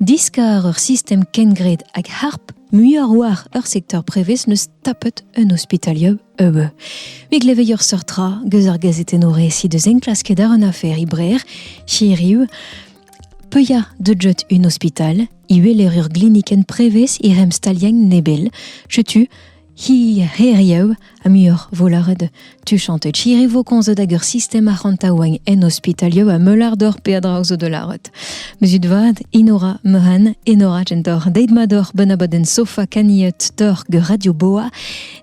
Diskar ur sistem kengred hag harp muioc'h war ur sektor prevez n'eus tapet un ospitalier eue. Me gleveio seurt tra geus ar gazeten o resi deus enklasket ar un afer i brer, chiriu, Peuya de jet un hospital, iwe ur gliniken prevez i rem staliañ nebel, chetu Hi hiriv ha muioc'h vo lâret. Tu chantet chiri vo komzet hag ur sistem arc'hantaouañ en ospitalioù ha meulardor peadra zo da lâret. Mezut vad, Inora Mehan, Enora gentor, deit mador benaboden sofa kaniet dor gur radio boa,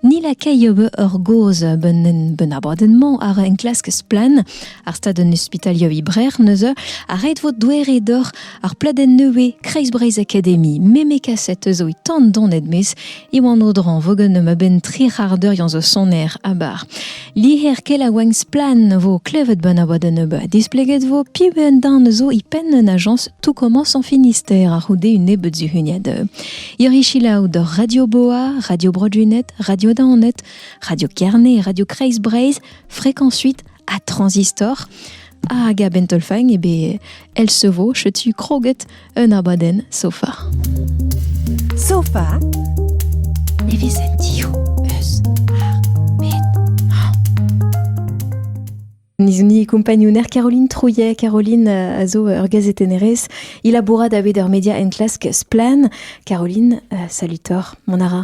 ni la kaiob ur goz benen benaboden-mañ ar enklask splan, ar stad un ospitalio ibrer neuze, a ret vo douere dor ar pladenn neue Kreizbreiz Academy, meme kaset eus o tan donet mes, Iwan Audran, vogenum a-benn tri c'har deuriañ zo soner abar. Liher kel a oañ splann vo klevet benn a oa da nebeut. Displeget vo piv un dan zo i penn un ajañs tout commence en Finistère a c'houde un nebeut zuhuniad. Yorichilaou d'ur Radio Boa, Radio Brodunet, Radio Daonet, Radio Kerne, Radio Kreis Breizh, Fréquence 8 à Transistor. Ah, Gab Entolfang, eh ben, elle se vaut, tu croguet, un abadenn sofa. Sofa Nevezentio eus ar Nizouni compagnouner Caroline Trouillet. Caroline euh, a zo ur gazetennerez. Il a bourra da bed ur media en clask Splan. Caroline, euh, salut tor, mon ara.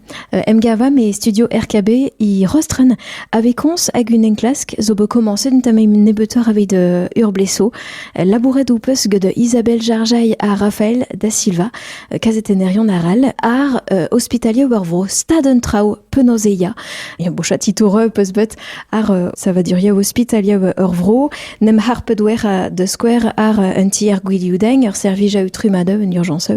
Emgavam e studio RKB e Rostren avait koñs hag un enklask zo bet komañset un tamm nebeutoc'h evit uh, Urbleso. Labouret ho peus gant Isabelle Jarjail ha Rafael da Silva, kazetennerion arall, ar uh, ospitalier war vro stad un traoù penaos e ya. Bochat titour peus bet ar euh, savaduria hospitalia ur vro nem harpet wer euh, da skouer ar euh, un tier gwilioudain ur servij a utrumada un urgence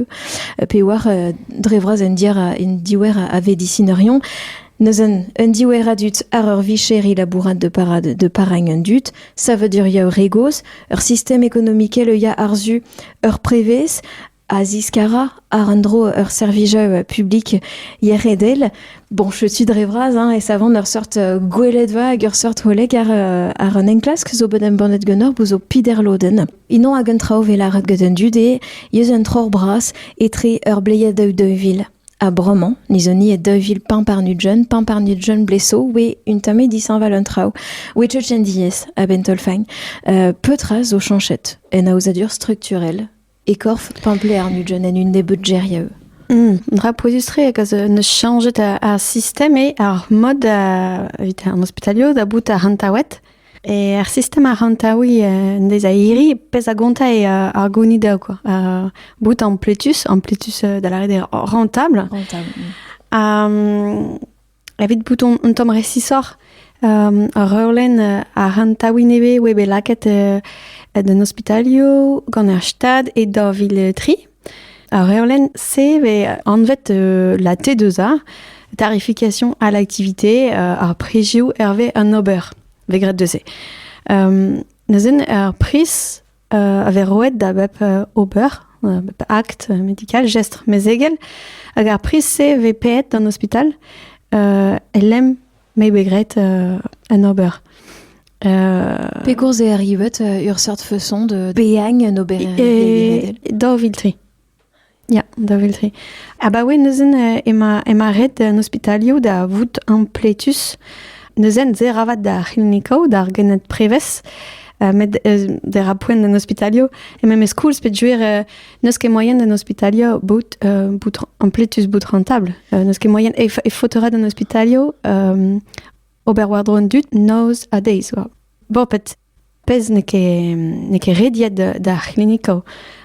pe war dre vras un dier un diwer a vedisinerion Neuzen, un diwera dut ar ur vicheri labourat de parad de paragne un dut, savaduria ur regoz, ur sistem économikel e ya arzu ur prevez, a ziskara àr un dro ur servijaü publik yec'hedel. Bon, je suis dre vras hein, e savont ur seurt gweledva hag ur seurt holeg àr, àr un enklask zo bet embannet ganeoc'h bout zo piderlodenn. Ino hag un traoù vel lâret get an dud eo eus un troc'h bras etre ur bleier daou daou vil. Ha bremañ, niz on e daou vil pemp ar nudjon, pemp ar nudjon bleso, oe un tamm dishañval an traoù. Oe tchetchen diaes a-benn taol-faign. Euh, petra zo chanchet en aozadur strukturel e korf pemplec'h nugent en un nebeud geriou. Mm, un dra pouezus-tre hag a zo neus chañjet ar sistem eo ar mod evit an ospitalio da bout ar rantaouet. E ar sistem ar rantaoui en dez a iri, pezh a gonta e ar gounid dezho quoi. bout en pletus, en pletus da lâret eo rentable. Rentable. Mm. Evit bout un tamm resisoc'h, ur reolenn a ran taoù nevez oa bet lakaet d'an ospitalioù gant ar Stad e daou vil tri. Ar reolenn se vez anvet la T2A, tarification à l'activité, ar prizioù hervez an ober, vez graet deus se. neuzen ar priz a vez roet da bep ober, bep act medical, gestr mezegel. Hag ar priz-se vez paeet d'an ospital, euh, el lem m'eo bet graet euh, un ober. Euh, Pegours eo arrivet ur seurt feuson de beagn un ober daou vil tri Ya, da vil-tri. Abaoe neuzen eh ema ema ret en ospitalioù da vout ampletus. Neuzen ser avat d'ar c'hlinikoù, d'ar gened-prevez, uh, met uh, der a poent en ospitalio. E memes koulz pet juer uh, n'eus ket moyen en ospitalio bout, uh, bout ampletus bout rentable. Uh, n'eus ket moyen e, e fotorat en ospitalio um, ober war-dro an dud nose a days. Bon, pet Pezh n'eo ket n'eo ket rediet d'ar c'hlinikoù.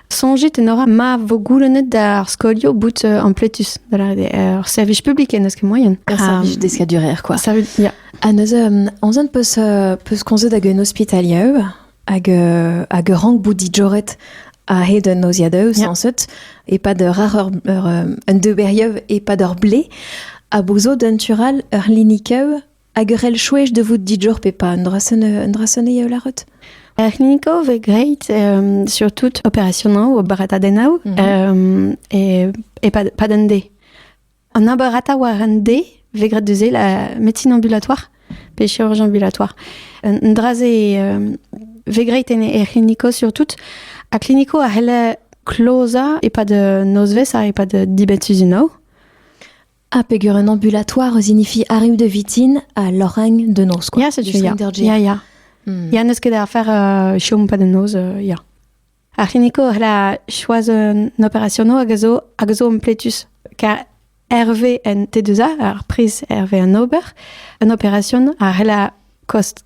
Soñjit en ora ma vo goulennet d'ar skolioù bout ampletus. Ur servij publik en deus ket moaien. Ur servij deskadurezh quoi. Servij, ya. Ha neuze, on zent peus peus komzet hag un ospitalier hag hag ur rank bout dijoret a-hed un noziadeù sañset e-pad ur rac'h ur un deberiev e-pad ur blez a bozo d'un tural ur c'hlinikeù Hag ur c'hell chouech da vout didioc'h pe pas un dra sonn eo lâret Ar c'hlinico vez grêt um, surtout operationoù, oberatadennoù, mm -hmm. e, e pas d'un dé. An oberata war an dé vez grêt deus la médecine ambulatoire pe chirurgien ambulatoire. Un dra-se um, vez grêt en er klinico surtout. A klinico a c'helle kloza e pas de nosves a e pas de dibetuzinau. Ah, peger un ambulatoire signifie arrive de Vitin ha lorraine de Noz. Ya, setu, ya. Ya, ya. Hmm. Ya, n'eus ket da afer uh, chom pa de noz, uh, ya. Ar c'hiniko, la choaz un operationo hag a zo, hag a zo ampletus. Ka Hervé en T2A, ar priz Hervé an ober, un operacion, a c'hella kost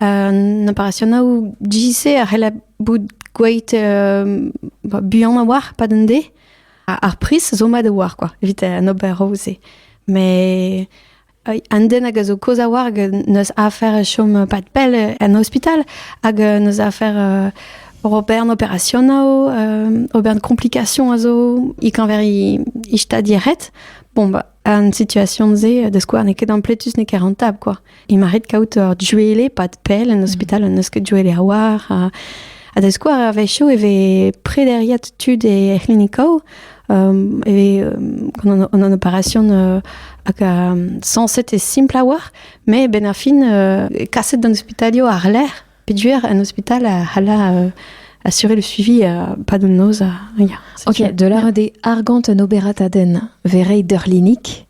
An operasionoù GCC a c'hell bout gweet buan a-walc'h pad an de. Ar priz zo mat a-walc'h kwa, evit an oberoù-se. Met an den hag a zo kozh a-walc'h n'eus afer chom pad pell en ospital hag n'eus afer ober an operasionoù, ober an complication a zo, e-keñver e stad e ret. Bon, bah, An situation-se, da skouer, n'eo ket ampletus, n'eo ket rentable, quoi. Il m'arrive kaout ur juele, pas de pelle, en hospital, un eus ket juele a oar. Ha, ha da skouer, a wechoù e ve prederiet tud e c'hlinikoù, um, e ve um, an, an opération uh, hag um, censé te simple a oar, mais ben a fin, uh, kaset d'an hospitalio ar lec'h, Piduer, un hôpital, a assurer le suivi pas de noz. Ok, de la rede argant un oberataden verrei derlinik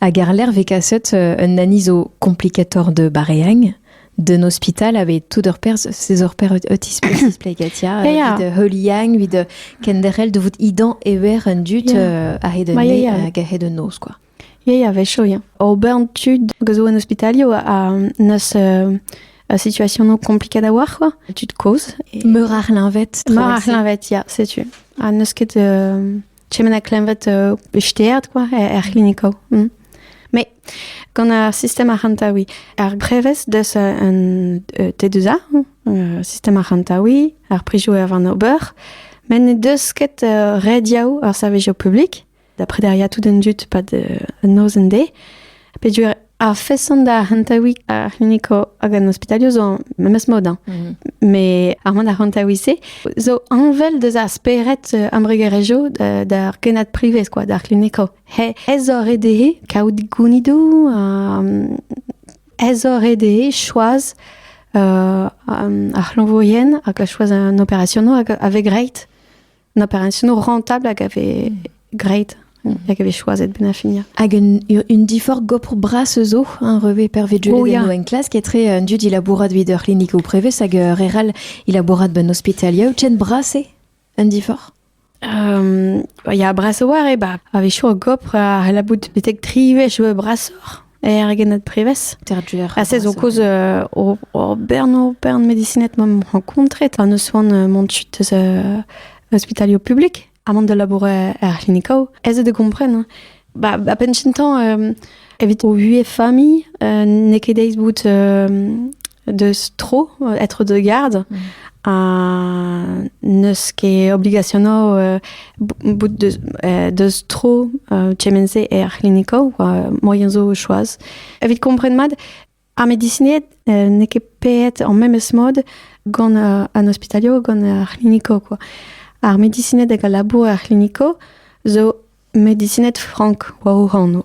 a garler vekaset un anizo complicator de bareang den hospital avait tout leur pers ses or per otis plegatia de heuliang vid kenderel de vout idan ever un dut a hed ne hag a hed noz quoi Ya, ya, a-wechoù, ya. Ober an tud hag a zo en ospitalioù a n'eus a situasionoù kompliket a-walc'h, quoi. Tud kozh. Et... Meur ar c'hleñved. Meur ar c'hleñved, ya, setu. Ha n'eus ket uh, tremen ar c'hleñved uh, besteet, quoi, er, er c'hlinikoù. Mm. Mais gant ar sistem arc'hantaouiñ, ar brevez deus un T2A, uh, sistem arc'hantaouiñ, ar prijoù er van ober, met ne deus ket uh, rediaoù ar servijoù publik, da predariañ tout an dud pad an noz-en de. Pedur ar feson da hantawi ar c'hliniko hag an hospitalio zo memes mod. Hein. Mm Mais ar man ar hantawi se zo anvel deus ar spered euh, ambregerejo d'ar kenad privez quoi, d'ar c'hliniko. He ez ore dezhe kaout gounidou, ez ore dezhe choaz euh, ar c'hlanvourien hag choaz an operationo avec reit. An operationou rentable hag a vez great, hag a vez choiset ben a finia. Hag un, un diforc'h gopr bras zo, un revet pervet jeu oh, en classe, qui est très un dieu il a bourrat vid ur clinique ou prevez, hag euh, reral il a bourrat ben hospitalia, chen brasse un diforc'h um, Ya, brasse war e ba, a vez chou gopr a la bout betek tri wech brasoc'h. Er gened prevez. Terduer. Ha sez o koz euh, o bern o bern medicinet m'am rencontret an eus oan euh, mont chut eus euh, hospitalio publik ha mont de labourer er c'hlinikao. Ez e de gompren. Hein. Ba, ba pensintan, euh, evit o vuez famille, euh, n'e ket deiz bout euh, deus tro être de garde mm. ha n'eus ket obligationo uh, bout deus, uh, deus tro uh, kement-se er c'hliniko moyen zo choaz. Evit kompren mat, ar medisinet uh, n'eo ket peet en memes mod gant uh, an hospitalio gant ar c'hliniko quoi. Ar medisinet hag al labour ar c'hliniko zo medisinet frank war o hano.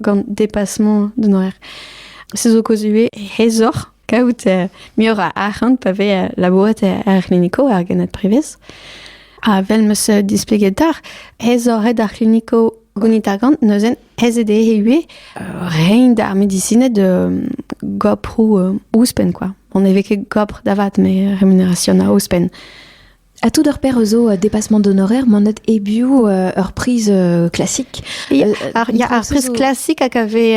gant depasement d'un horaire. Se zo kozue hezoc'h kaout uh, muioc'h a arc'hant pa ve uh, labourat er kliniko ar genad privez. Ha vel meus displegetar, ez oret ar kliniko gonit ar gant, neuzen ez ede e rein d'ar medicinet de goprou euh, ouzpen, quoi. On ne ket gopr da vat, mais rémunération a ouzpen. Ha tout ur paire zo a dépassement d'honoraires manet hebiou ur priz classique. Il y a un priz classique hag a vez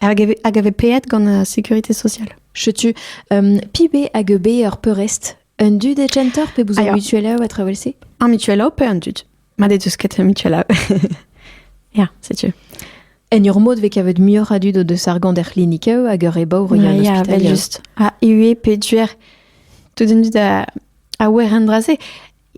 hag a paeet gant la sécurité sociale. Chetu um, pibe hag ur peurest un dud e genter pe bouzar mutuel a travelse? Un mutuel a pe un dud. Mat eo deus ket Michela. Ya, setu. En ur mod vez kavet muioc'h a dud o deus ar gant er c'hlinikeù hag ur ebour ur an ospitalioù. Ja, just. Ha ue pe duer tout un dud a, a wer en dra-se.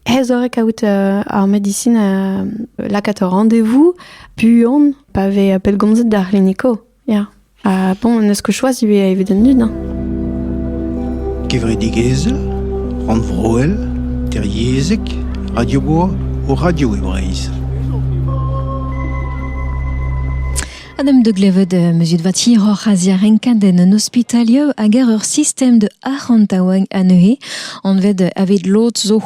Ez ore kaout uh, ar medisin uh, lakat ur rendez-vous buan pa vez pellgomzet d'ar c'hliniko. Ya. Ha bon, en eus ket choaz ivez evit an dud, hein? Kevredigezhel, rannvroel, teryezhek, radio-boa o radio e Breizh. Adem de glevet euh, muzit vati hor azia renkaden un hospitalieu hag er ur sistem de arc'hantaouang anezhe anvet euh, aved lod zo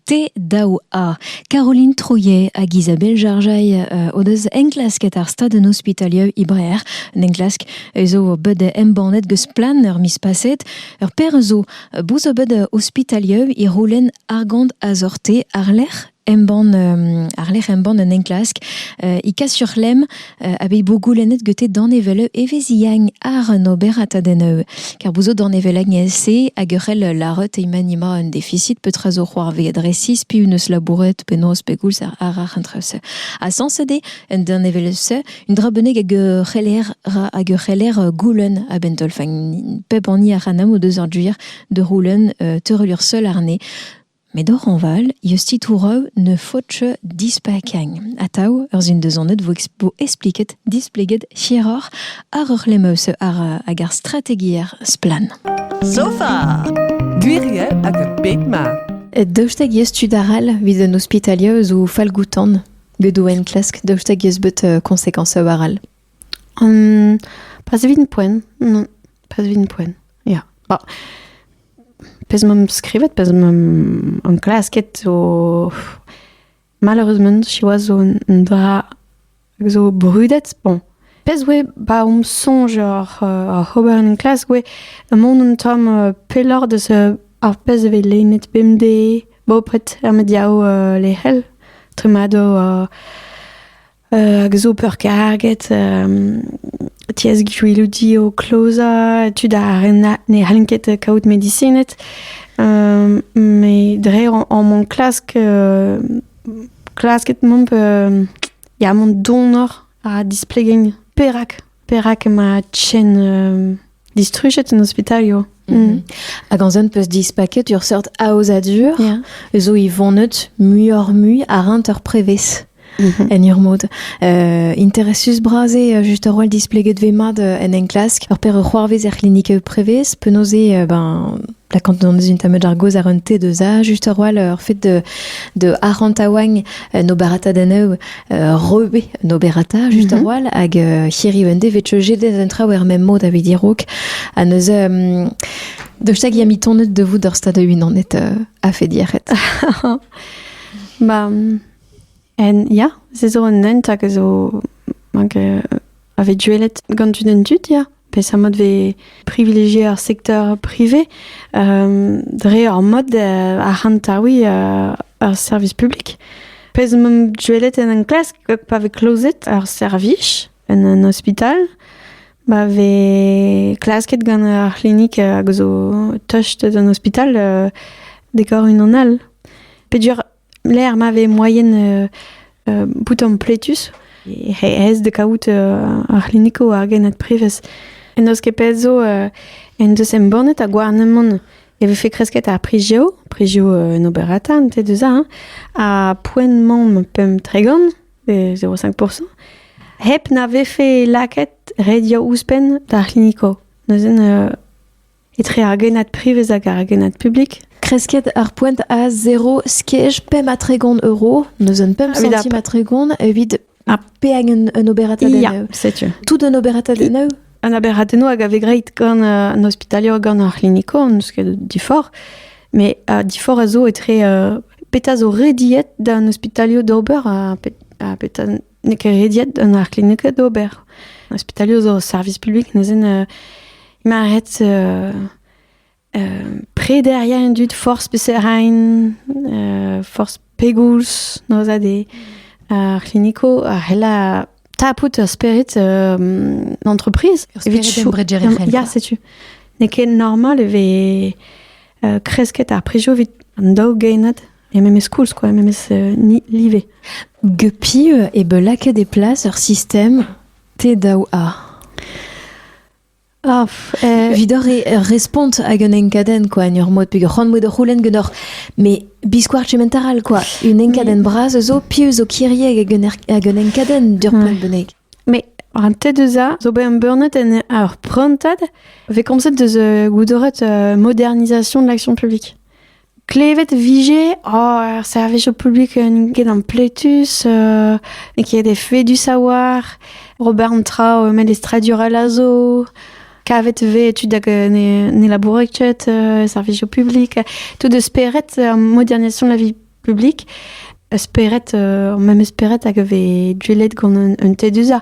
Te daou a Caroline Trouillet hag Isabelle Jarjail uh, o deus enklasket ar stad an ospitalieu Ibrer, un enklask zo bet embannet geus plan ur mis paset. Ur per zo bouz bet ospitalieu i roulen argant azorte arlec'h embann, euh, arlec'h embann un enklask. Uh, I kas sur lem a vez bo goulennet gete danevell eveziagne ar un oberat a deneu car bout zo danevellagn se hag ur c'hell laret imanima un deficit petra zo c'hoarveet resis piv neus labouret penaos pegoulz ar ar entrese a sans ede un danevell se un dra beneg hag ur c'heller ra hag ur c'heller goulen a bentolfagn pep anni a ranam o deus ar duir de roulen teurelier seul arne Met hañval eus titouroù ne faotr dispakeañ atav ur sundezoned vo espliket displeget hiroc'h àr ur c'hlemeuse àr hag ar strategiezh splann. Sofa! Gwiriel hag a bep mat. Daoust hag eus tud arall evit an ospitalier zo fallgoutan bet o enklask daoust hag eus bet uh, konsekans arall? Um, pas evit an poent. Non, pas evit an poent. Ya. Bon. Pezh m'am skrivet, pezh m'am anklasket zo... Malheureusement, siwazh zo un dra hag zo brudet. Bon, pezh oe ba om soñj oc'h uh, ober en klas oe mont un tamm uh, pelloc'h deus uh, ar pezh e vez lennet bemdez, bopret er mediaoù uh, lec'hel, tremado uh, Hag zo peurkarget tiez gwillouti o klozañ, tud ne c'hallent ket kaout medisined. Met dre omp klask klasket mont mont donoc'h ha displegañ perak. Perak emañ chen euh, distrujet en ospitalio. Mm. Hag an zon peus dispaket ur seurt aozadur yeah. zo i vonet muioc'h-mui ar rinter prevez. Mm-hmm. en ur mod. Uh, interesus brase uh, just ur roll displeget ve mat uh, en enklask ur per ur c'hoarvez er klinik prevez penaos eo uh, ben la quand on est une tameud argoz ar un te deus a just ur roll ur fet de de arant a oagn uh, no barata da nev Rebe un oberata just mhm. a-walh hag hiriv en devez chejet en traoù er mem mod a vidirok ha neus Dost hag amitonet de vout d'ur stad unanet euh, a fait diaret. ba, en, ya, se zo un hent hag zo, hag euh, a vez duellet gant un dud ya peseurt mod vez privilegié ar secteur privé euh, dre ur mod euh, ar c'hanta oui euh, ar service public pezh m'am duellet en enklask pa vez klozet ar servij en un hospital ba vez klasket gant ar c'hlinik hag zo tocht d'un hospital dekor unan all pedur Lec'h ma vez moaien euh, bout ampletus, res da kaout euh, ar c'hlinikoù ar genad prevez. En eus ket pet zo euh, en deus embannet a gouarnamant e vefe kresket ar prijeo, prijeo en oberata, an te deus hein, a poent mam pem tregant, 0,5%, hep na vefe laket redio ouzhpenn d'ar c'hliniko. Neuzen etre ar genad privez hag ar genad publik. Kresket ar poent a 0 skej pemp ha tregont euro, neus un pemp centime ha tregont evit ha peag un, un oberatadenn yeah, setu. Tout un oberatadenn eu? Un oberatadenn hag a vez greit gant uh, un ospitaler gant ar c'hlinico, n'eus ket difor, mais uh, difor a zo etre uh, petra zo rediet d'un ospitaler d'ober ha, pe, ha petra N'eo ket rediet d'an arc'hlinikañ d'ober. Ospitalioù zo service publik neuzen euh, maret euh, euh, prederia en dud force beserain, euh, force pegoulz nozade ar kliniko a hella tapout ur spirit euh, d'entreprise. Evit chou... Ya, setu. N'eo ket normal e ve euh, kresket ar prejou evit an daou genad Ya memes koulz quoi, memes euh, live. Guppy euh, e be lakaet e plas ur sistem te daou a. Ah, eh. Vidor e respont hag un enkaden quoi, en ur mod peg c'hoant mod roulen genor, mais biscoar cementaral quoi, un enkaden bras zo pieux zo kirieg hag un, hag un enkaden dur plan benek. Mais an te deus a zo bet umburnet en ar prantad, ve komzet deus euh, goudoret euh, modernisation de l'action publique. Klevet 'vije ar servijo publik n'int ket ampletus, n'eo ket efedus a-walc'h, ober an traoù melestradurel a zo, kavet 'vez tud hag ne labourent ket e servijo publik, tout e spered modernisation de la vie publique, spered, ar memes spered hag a vez gwelet gant un teduzañ.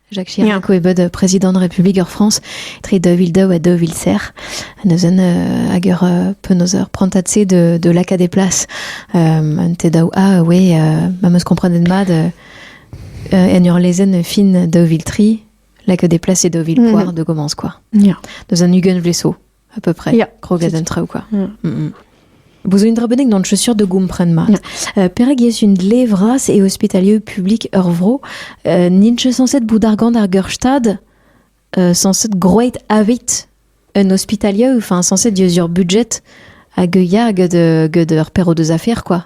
Jacques Chirac, oe bet prezidant Republik ar Frañs tre 2002 ha 2000 neuzen uh, hag er uh, penaos ur prantad-se de, de lakaat e plas um, un te daou a oe uh, ma meus komprenet mat uh, uh, en ur lezenn fin 2003 lakaat e plas e 2000 poar mm. de commence quoi. Yeah. Deus un ugent vleso À peu près. Ja. Kroget en traoù, quoi. Ja. Mm -mm. Bozo un drabennek d'an chaussure de gompren mat. Ja. Uh, perak ez un dle vras e ospitalieu publik ur vro uh, ninche sanset boudargant ar geurstad uh, sanset groeit avit un ospitalieu, enfin sanset dieus ur budget hag ya gant ur perro deus affaires, quoi.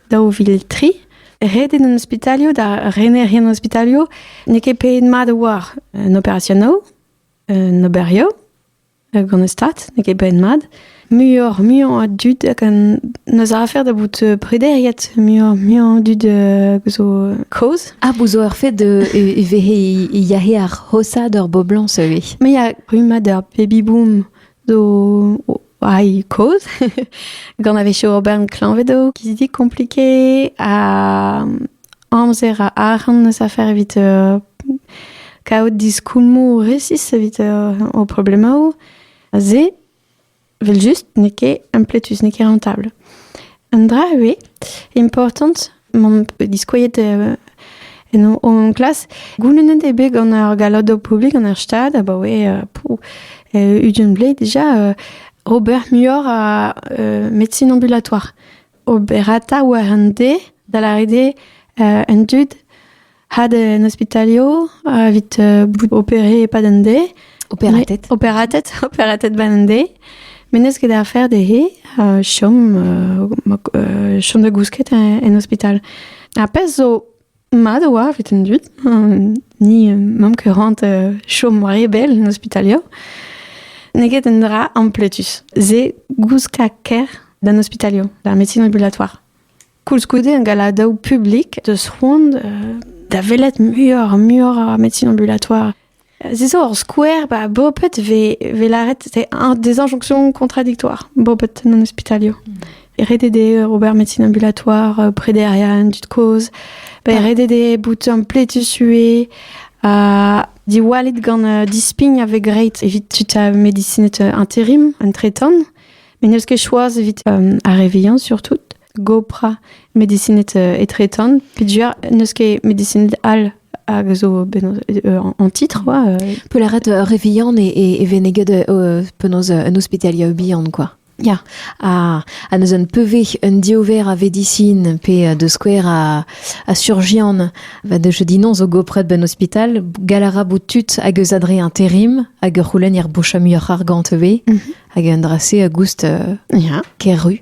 daou vil tri. Ret eo d'an ospitalioù, da renerien an ospitalioù, n'eo ket pet mat a oar un operasionoù, un oberio gant e stad, n'eo ket pet mat. Muioc'h, muiañ a dud hag n'eus afer da bout prederiet, muiañ, muiañ dud zo kaoz. Ah, bout zo ur fet de e vehe yahe ar hosa d'ur boblañs ivez. Mais il y a rummad ar baby boom zo Wai, koz. Gant a-wechoù ober klañved eo kizidik komplike ha amzer a arc'hant eus afer evit uh, kaout diskoulmoù resis evit uh, o problemaoù. Se, vel just, n'eo ket impletus, n'eo ket rentable. Un dra ivez important m'am pe diskouezet euh, en o klas. Goulennet eo bet gant ar gallodo publik gant ar stad abaoe euh, pou, euh, ugent blez déjà ober muioc'h a médecine ambulatoire. Oberata war an de, da la rede en tud had en ospitalio evit bout opéré e-pad an deiz. Opératet. Opératet, opératet ban an deiz. Menez ket ar fer dezhe uh, chom, uh, chom da gousket en ospital. Ar pezh zo mat oa evit an dud, ni mamm ket rant chom war e bel en ospitalio. N'eo ket un dra ampletus. Se gouskañ ker d'an ospitalio, d'ar médecine ambulatoire. koulskoude un galadaoù publik deus c'hoant da welet muioc'h muioc'h ar médecine ambulatoire. C'est ça, hor skouer, bah, bopet ve, ve laret, c'est un des injonctions contradictoires, bopet non hospitalio. Mm. RDD, Robert Médecine Ambulatoire, euh, près d'Ariane, du Cause, bah, RDD, bout un ple tué, euh, di walit gant euh, dispign avec great evit tuta médecine intérim, un tretan, mais ne ket choaz evit euh, ar reveillant surtout. gopra medisinet euh, etretan. Pidger n'eus ket medisinet all hag zo euh, en titre quoi. Euh. Peularet euh, revian e, e, e veneged euh, penaos un hospitalia bihan quoi. Ja, a, a neus un peve un diover a vedisin pe de skouer a, a surgian va de je dis non zo gopret ben hospital galara boutut hag eus adre interim hag ur c'houlen er boucha muioc'h argant ve mhm. hag un drase a goust uh, ja. keru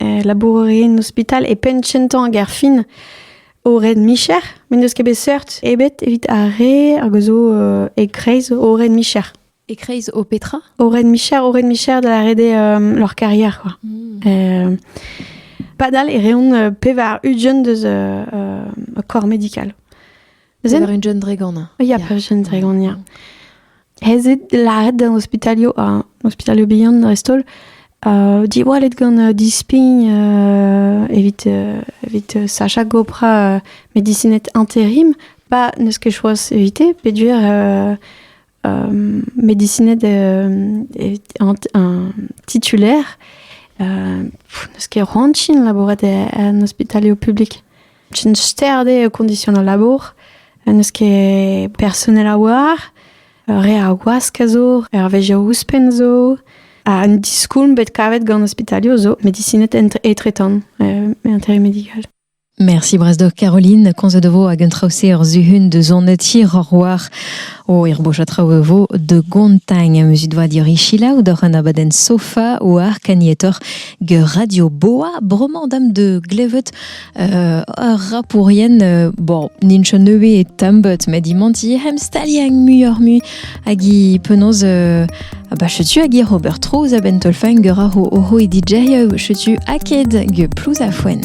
labour en ospital e penn kentañ ar gêr fin o red micher, met n'eus ket bet seurt ebet evit ar re hag zo euh, e-kreiz o red micher. E-kreiz o petra O red micher, o red micher da rede euh, leur carrière, quoi. Mm. Euh, padal e reont pevar ugent deus corps médical. Pevar un jeune dragon. Ya, pevar jeune dragon, ya. Ez eo lâret d'an ospitalio, uh, ospitalio bihan dreist-holl, uh, diwallet gant uh, dispign uh, evit, uh, evit uh, Sacha Gopra, uh, medicinet intérim, pas ne ce que choix éviter, péduire euh, médicinet un titulaire n'eus ket rantin labourat en ospitalioù publik. Un sterde condition al labour, n'eus ket personnel a war, re a wask a zo, ur veje ouzhpenn zo, ha un diskoulm bet kavet gant ospitalioù zo, medicinet etretan, intérim médical. Merci Brasdoc Caroline, komzet vo hag un traoù-se ur zuhun de zonet hiroc'h o irboch a traoù vo de Gontagn muzik doa dirichila ou doc'h an abadenn sofa ou ar kanietoc'h ge radio boa bremañ dam de glevet uh, ur rapourien uh, bon ninch neuve e tambut met imanti hem staliañ muioc'h mui Hag i penaos euh, Ba chetu hag ir ober trouz a benn teulfeñger a ro oho e DJ-eu chetu aked ge plouz a foen.